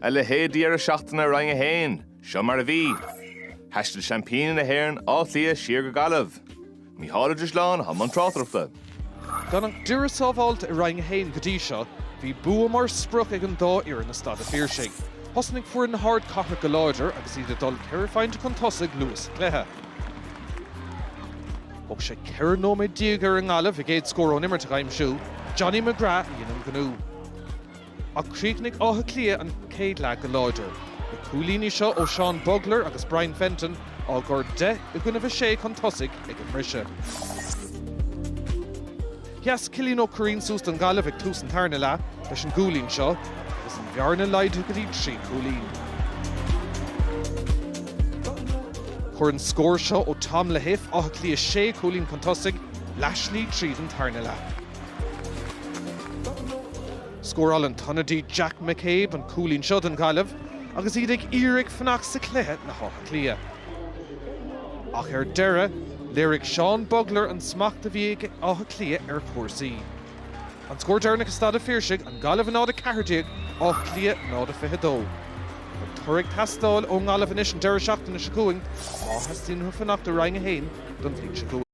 A leithéid de dheireadh seachtaine i Roinn 1, seo mar a bhí. Thaistil seaimpíní na hÉireann, Áth Cliath, siar go Gaillimh. Mícheál Ó Drisleáin atá i mbun tráchtaireachta. Gan an dá fhoireann sábháilte i Roinn 1 go dtí seo, bhí bua mar sprioc ag an dá fhoireann i Staid an Phiarsaigh. Thosnaigh foireann na hardchathrach go láidir agus iad ag dul ceithre phointe chun tosaigh luath sa chluiche. Thóg sé 14 nóiméad ar an nGaillimh a gcéad scór ón imirt a aimsiú, Johnny McGrath a dhein an gnó. Ach chríochnaigh Áth Cliath an chéad leath go láidir. Na cúilíní seo ó Seán Bugler agus Brian Fenton á gcur deich i gcoinnibh a sé chun tosaigh ag an mbriseadh. Sheas Cillian Ó Curraoin suas don Ghaillimh ag tús an tarna leath leis an gcúilín seo agus an bhearna laghdaithe go dtí trí chúilín. Chuir an scór seo ó Tom Lahiff Áth Cliath sé chúilín chun tosaigh, leathslí tríd an tarna leath. Scóráil an t-ionadaí Jack McCabe an cúilín seo don Ghaillimh agus iad ag iarraidh fanacht sa chluiche le hÁth Cliath. Ach ar deireadh, léirigh Seán Bugler an smacht a bhí ag Áth Cliath ar chúrsaí. An scór deireanach i Staid a' Phiarsaigh, An Ghaillimh 0 14 Áth Cliath 0 22. An toradh ag teastáil ón nGaillimh anois an deireadh seachtaine seo chugainn má theastaíonn uathu fanacht i Roinn 1 don bhliain seo chugainn.